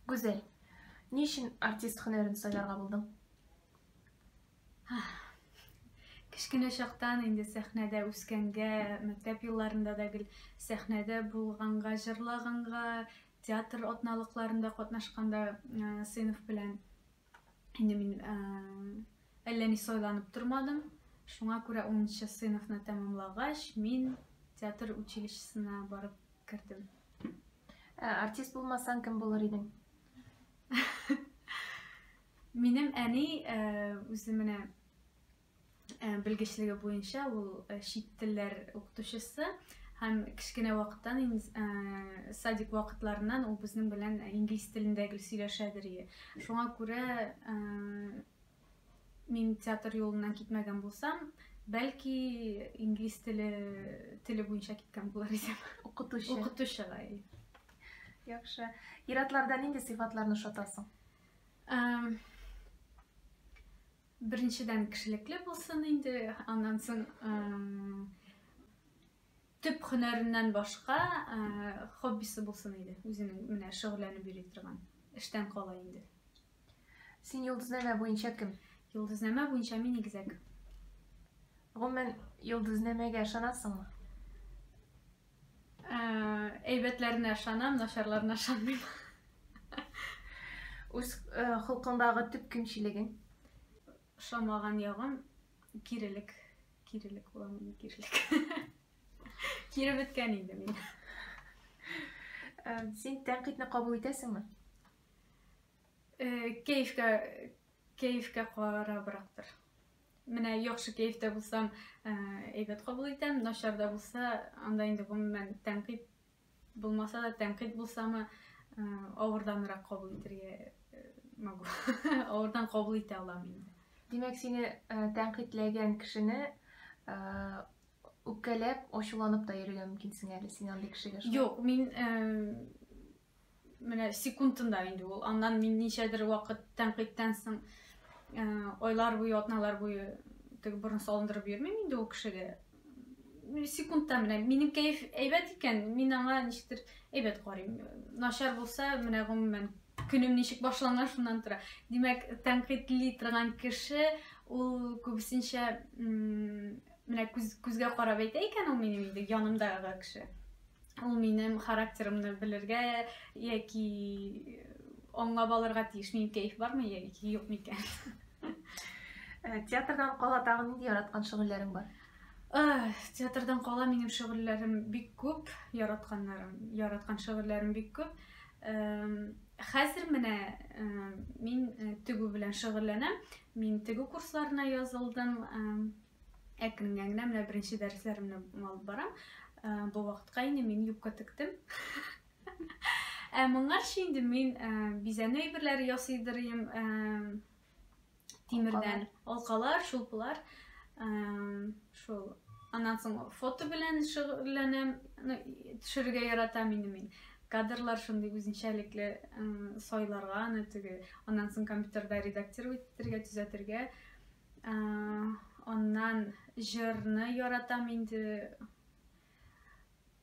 Гүзәл, ни өчен артист һөнәрен сайларга булдың? Кечкенә чактан инде сәхнәдә үскәнгә, мәктәп елларында да гел сәхнәдә булганга, җырлаганга, театр атналыкларында катнашканда сыйныф белән Инде мин ә, әллә ни сайланып тормадым. Шуңа күрә 10 сыйныфны тәмамлагач, мин театр училищесына барып кердем. Ә, артист булмасаң, кем булыр идең? Минем әни ә, үзе менә Э, белгечлеге буенча ул э, чит телләр укытучысы һәм кечкенә вакыттан э, садик вакытларыннан ул безнең белән инглиз телендә гел сөйләшәдер ие шуңа күрә мин театр юлыннан китмәгән булсам бәлки инглиз теле теле буенча киткән булыр идем укытучы укытучыга яхшы ир-атларда нинди сыйфатларны ошатасың Беренчедән кешелекле булсын инде, аннан соң төп һөнәреннән башка хоббисы булсын иде, үзенең менә шөгыльләнеп йөри торган эштән кала инде. Син йолдызнамә буенча кем? Йолдызнамә буенча мин игезәк. Гомумән, йолдызнамәгә ышанасыңмы? Әйбәтләренә ышанам, начарларына ышанмыйм. Үз холкыңдагы төп кимчелегең? Ошамаган ягым кирелек. Кирелек булам мин, кирелек. Кире беткән инде мин. Син тәнкыйтьне кабул итәсеңме? Кәефкә кәефкә карабрактыр. Менә яхшы кәефтә булсам, э, әйбәт кабул итәм, начарда булса, анда инде гомумән тәнкыйть булмаса да, тәнкыйть булсамы, э, авырданрак кабул итәргә э, могу. Авырдан кабул итә алам инде. Димәк, сине тәнкыйтьләгән кешене үпкәләп, ачуланып та йөрергә мөмкинсең әле син андый кешегә. Юк, мин менә секундында инде ул аннан мин ничәдер вакыт тәнкыйтьтән соң э, айлар буе атналар буе теге борын салындырып йөрмим инде ул кешегә секундта менә минем кәеф әйбәт икән мин аңа ничектер әйбәт карыйм начар булса менә гомумән көнем ничек башлана шуннан тора димәк тәнкыйтьли торган кеше ул күбесенчә менә күз, күзгә карап әйтә икән ул минем инде янымдагы кеше Ул минем характерымны белергә яки аңлап алырга тиеш, минем кәеф бармы яки юк микән. Э, театрдан кала тагы нинди яраткан шөгыльләрең бар? Э, театрдан кала минем шөгыльләрем бик күп, яратканнарым, яраткан шөгыльләрем бик күп. Э, хәзер менә мин тегү белән шөгыльләнәм. Мин тегү курсларына язылдым. әкренлән генә менә беренче дәресләремне алып барам. Э, бу вакытка инде мин юбка тектем. Ә моңарчы инде мин э, бизәнү әйберләре ясый дөрим. Э, тимердән алкалар, шулпылар. Шул аннан соң фото белән шөгыльләнәм, төшерергә яратам инде мин кадрлар шундый үзенчәлекле сайларга аны теге аннан соң компьютерда редактировать итәргә төзәтергә Аннан җырны яратам инде.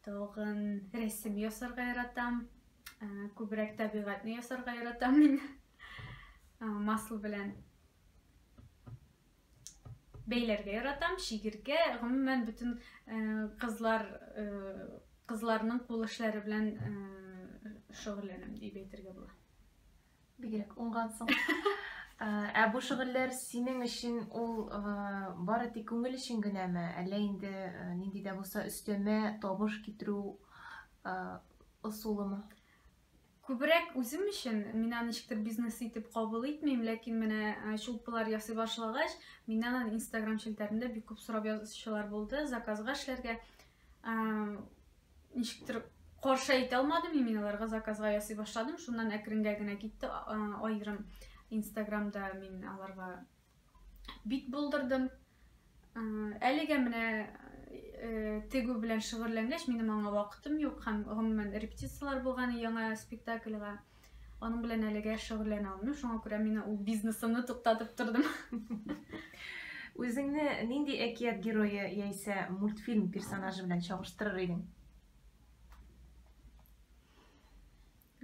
Тагын рәсем ясарга яратам. Күбрәк табигатьне ясарга яратам мин. Масл белән бәйләргә яратам, шигергә, гомумән бөтен кызлар кызларның кул эшләре белән шөгыльләнәм дип әйтергә була. Бигрәк уңгансың. Ә бу шөгыльләр синең өчен ул бары тик күңел өчен генәме, әллә инде нинди дә булса өстәмә табыш китерү ысулымы? Күбрәк үзем өчен, мин аны ничектер бизнес итеп кабул итмим, ләкин менә чулпылар ясый башлагач, миннән аны Instagram челтәрендә бик күп сорап язучылар булды, заказга эшләргә. ничектер каршы әйтә алмадым и мин аларга заказга ясый башладым шуннан әкренгә генә китте аерым инстаграмда мин аларга бит булдырдым әлегә менә э, тегү белән шөгыльләнгәч минем аңа вакытым юк һәм гомумән репетицияләр булган яңа спектакльга Аның белән әлегә шөгыльләнә алмыйм, шуңа күрә мин ул бизнесымны туктатып тордым. Үзеңне нинди әкият герое яисә мультфильм персонажы белән чагыштырыр идең?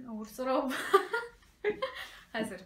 Авыр сорау. Хәзер.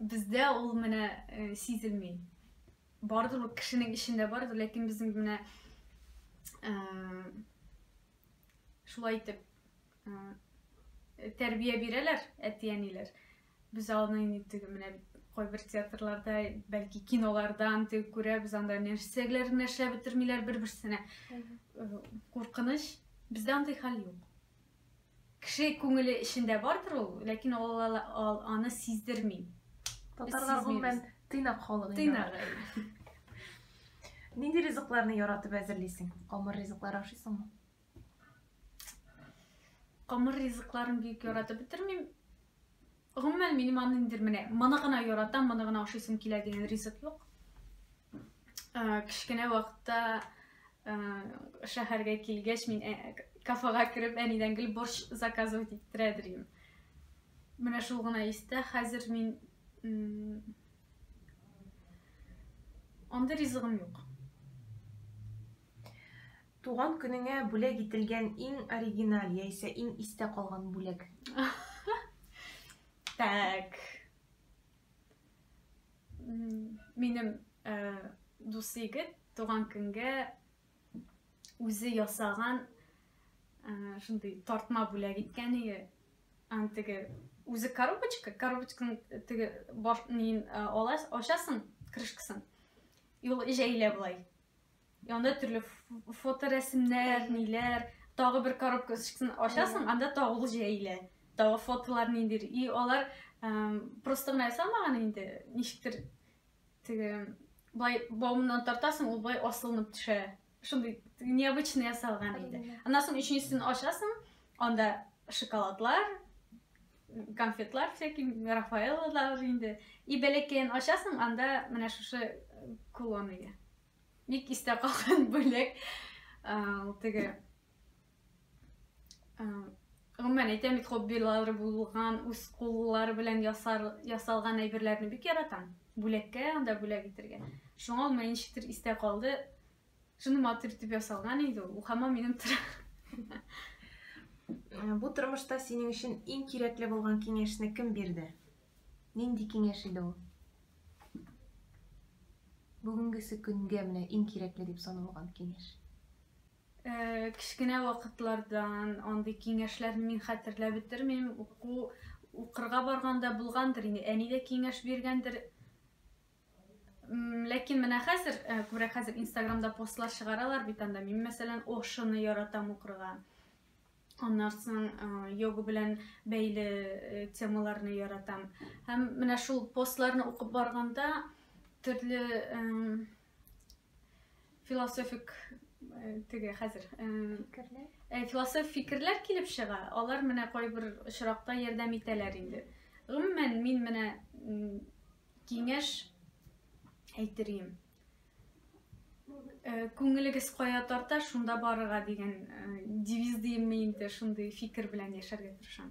Бездә ул менә э, сизелми. Бардыр ул кешенең эчендә бардыр, ләкин безнең менә э, шулай итеп э, тәрбия бирәләр әти-әниләр. Без аны инде теге менә кайбер театрларда, бәлки кинолардан теге күрәбез, анда нәрсәләрне эшләп бетермиләр бер-берсенә. Э, Куркыныч. Бездә андый хәл юк. Кеше күңеле эчендә бардыр ул, ләкин ал аны сиздерми. Татарлар гомумән тыйнак халык инде. Тыйнак. Нинди ризыкларны яратып әзерлисең? Камыр ризыклар ашыйсыңмы? Камыр ризыкларын бик яратып бетермим. Гомумән, минем аны ниндидер менә моны гына яратам, моны гына ашыйсым килә дигән ризык юк. Кечкенә вакытта шәһәргә килгәч, мин кафега кереп, әнидән гел борщ заказывать иттерә идем. Менә шул гына истә, хәзер мин андый ризыгым юк. Туган көнеңә бүләк ителгән иң оригиналь яисә иң истә калган бүләк? Так. Минем э, дус егет туган көнгә үзе ясаган э, шундый тартма бүләк иткән иде. Аны теге үзе коробочка, коробочканың теге баш нин э, аласың, ачасың крышкасын. И ул җәйлә болай. Янда төрле фоторәсемнәр, ниләр, тагы бер коробка ышыксын ачасың, анда тагы ул җәйлә. Тагы фотолар ниндер. И алар просто гына ясалмаган инде, ничектер теге былай баумыннан тартасың, ул былай асылынып төшә. Шундый необычный ясалган инде. Аннан соң өченчесен ачасың, анда шоколадлар, конфетлар всякие, Рафаэла да уже инде. И бәләкәен ашасың, анда менә шушы э, кулон иде. Бик истә калган бүләк. Ул теге Гомумән әйтәм бит хоббилары булган, үз куллары белән ясар, ясалган әйберләрне бик яратам. Бүләккә анда бүләк итергә. Шуңа ул мәнчетер истә калды. Шуны матур итеп ясалган инде ул. Хамам минем э, Бу тормышта синең өчен иң кирәкле булган киңәшне кем бирде? Нинди киңәш иде ул? Бүгенгесе көнгә менә иң кирәкле дип саналган киңәш. Э, кечкенә вакытлардан андый киңәшләрне мин хәтерләп бетермим. Уку укырга барганда булгандыр инде. Әни дә киңәш биргәндер. ләкин менә хәзер күбрәк хәзер инстаграмда постлар чыгаралар бит анда мин мәсәлән ошыны яратам укырга аннан соң йога белән бәйле темаларны яратам һәм менә шул постларны укып барганда төрле философик теге хәзер фикерләр философ фикерләр килеп чыга алар менә кайбер очракта ярдәм итәләр инде гомумән мин менә Киңәш әйтерем. Э, Күңелегез кая тарта, шунда барырга дигән э, девиз димме инде, шундый фикер белән яшәргә тырышам.